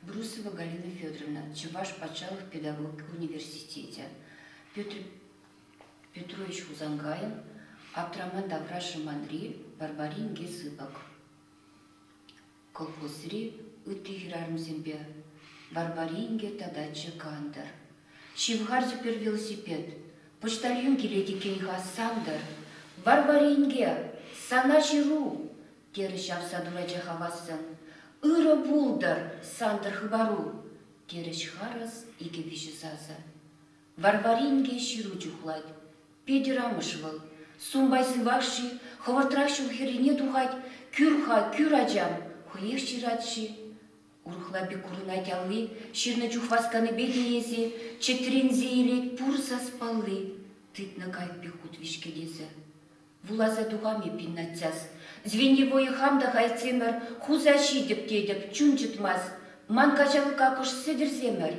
брусова галина федоровна чӑваш патшалӑх педагогика университечӗ петрович хусанкайӑн аптраман тавра шӑманри варвари инке сыпӑк колхозри ытти хӗрарӑмсемпе варвари инке татаччӗ кантӑр ҫывхарчӗ пӗр велосипед почтальон килет иккен-ха сантӑр варвари инке сана ҫыру терӗ ҫапса турачӗ хавассӑн. Ырӑ пултӑр, Сантӑр хыпару! терӗҫ харӑс икӗ-виҫӗ сасӑ. Варвар инке ҫыру чухлать. Петӗр амӑш вӑл. Сумбай сывах-ши, хӑвӑртрах ҫул хӗррине тухать, кӳр-ха, кӳр, ачам, хӑех ҫырать-ши? Урӑхла пек курӑнать алли, ҫырнӑ чух васканипе тиесе, чӗтренсе илет пур саспалли, тытнӑ кайӑк пек хут виҫкет эсӗ. Вуласа тухам эппин, наччас. Звеньевое хам та хайтсемӗр, хуса ҫитӗп тетӗп, чун чӑтмасть. Ман каҫалӑка кӑш сӗтӗрсемӗр.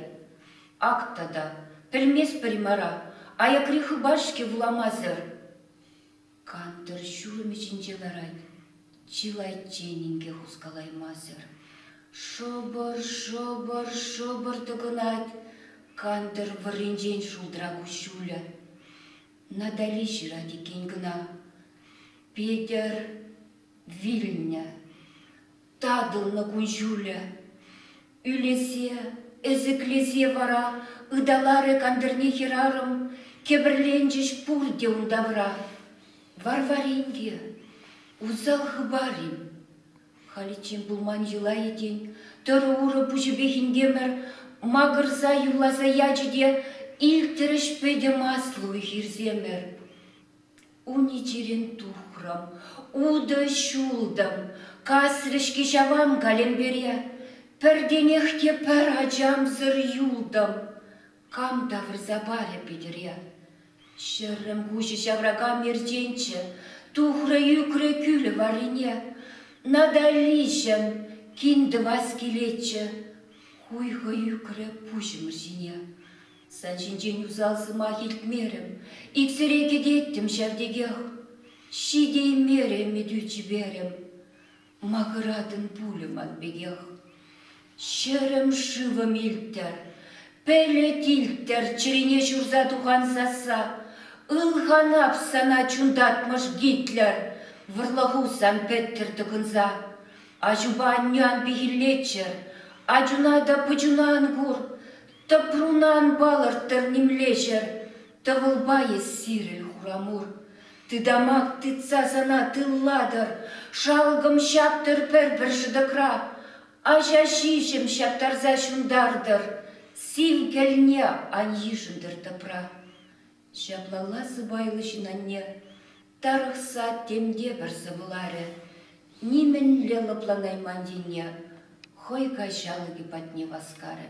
Ак тата, пӗлместпӗр-и мара, аякри хыпар-ҫке вуламасӑр. Кантӑр ҫулӑмӗ ҫинче ларать, чылайччен инке хускалаймасӑр. Шӑпӑр, шӑпӑр, шӑпӑр тӑкӑнать. Кантӑр вӑрринчен шултра куҫҫулӗ. Натали ҫырать иккен кӑна. Петӗр вилнӗ. Татӑлнӑ кун-ҫулӗ. Ӳлесе, ӗсӗклесе вара ыталарӗ кантӑрне хӗрарӑм. Кӗпӗрленчӗҫ пурте ун тавра. Варвар инке, усал хыпар-им? Халиччен пулман йӑла-и тен, тӑрӑ-урӑ пуҫӗпех инкемӗр макӑрса юрласа ячӗ те илтрӗҫ пӗтӗм аслӑ уй-хирсемӗр. Ун чирӗн тухрӑм, утӑ ҫултӑм, касрӗ-ҫке ҫавам калемпере. Пӗртенех те пӗр ачамсӑр юлтӑм. Кам тавӑрса парӗ Питӗре? Ҫӗрӗм куҫӗ ҫавракан ерченччӗ, тухрӗ ӳкрӗ кӳлӗ варрине. Наталиҫӑм, кин тӑвас килетчӗ, хуйхӑ ӳкрӗ пуҫӑмӑр ҫине. Сан ҫинчен усал сӑмах илтмерӗм, иксӗре кӗтеттӗм ҫав текех. Ҫитеймерӗ ӗмӗтӳ чиперӗм. Макӑратӑн пулӗ ман пекех. Ҫӗрӗм шывӑм илттӗр, пӗлӗт илттӗр чӗрине ҫурса тухан сасса. Ылханап сана чунтатмӑш Гитлер, вӑрлӑху сан пӗттӗр тӑкӑнса. Аҫупа анне ан пехиллеччӗр, ачуна та пӑчуна ан кур. Тӑпруна ан палӑрттӑр нимле ҫӗр, тӑвӑлпа эс сирӗн хурамур. Тытамак тытса сана тыллатӑр, шалкӑм ҫаптӑр пӗр-пӗр шӑтӑкра, аҫа ҫиҫӗм ҫаптарса ҫунтартӑр, сив кӗлне ан йышӑнтӑр тӑпра. Ҫаплалла сӑпайлӑ ҫынанне тарӑхса тем те пӗр сӑвӑларӗ, нимӗнле лӑпланайман енне хӑй каҫалӑкӗ патне васкарӗ.